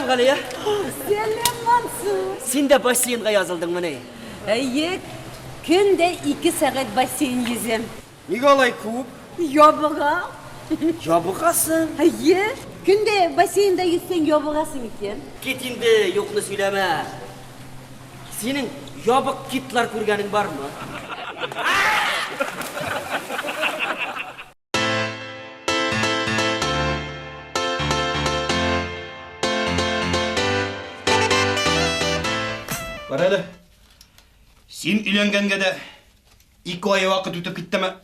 Галия. Сәлем, Мансур. Син дә бассейнга язылдың мени? Әйе. Көн дә 2 сәгать бассейн йөзәм. Нигә алай күп? Ябыга. Ябыгасың? Әйе. Көндә бассейнда йөзсәң ябыгасың икән. Кит инде, юкны сөйләмә. Синең ябык китлар күргәнең бармы? Бар әле. Син өйләнгәнгә дә Ике ай вакыт үтеп киттеме?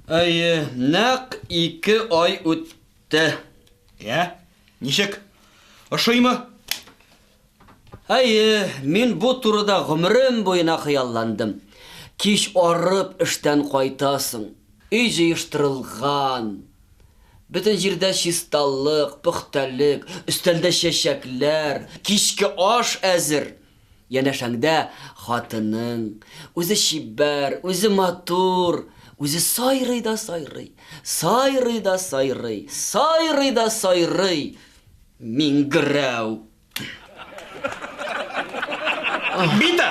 Әйе, нәкъ ике ай үтте. Йә, ничек? Ошыймы? Әйе, мин бу турыда гомерем буена хыялландым. Кич арып эштән кайтасың. Өй җыештырылган. Бөтен җирдә чисталык, пөхтәлек, өстәлдә чәчәкләр, кичке аш әзер. Янәшәңдә хатының, үзе чибәр, үзе матур, үзе сайрый да сайрый, сайрый да сайрый, сайрый да сайрый, миңгерәү. Бита!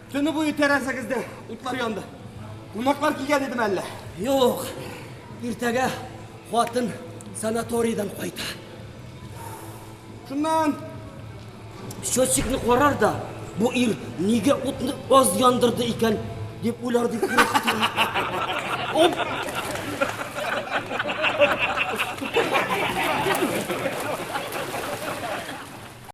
Төне буе тәрәзәгездә утлар янды. Кунаклар килгән идеме әллә? Юк. Иртәгә хатын санаторийдан кайта. Шуннан счетчикны карар да, бу ир нигә утны аз яндырды икән дип уйлар дип курыкты. Оп!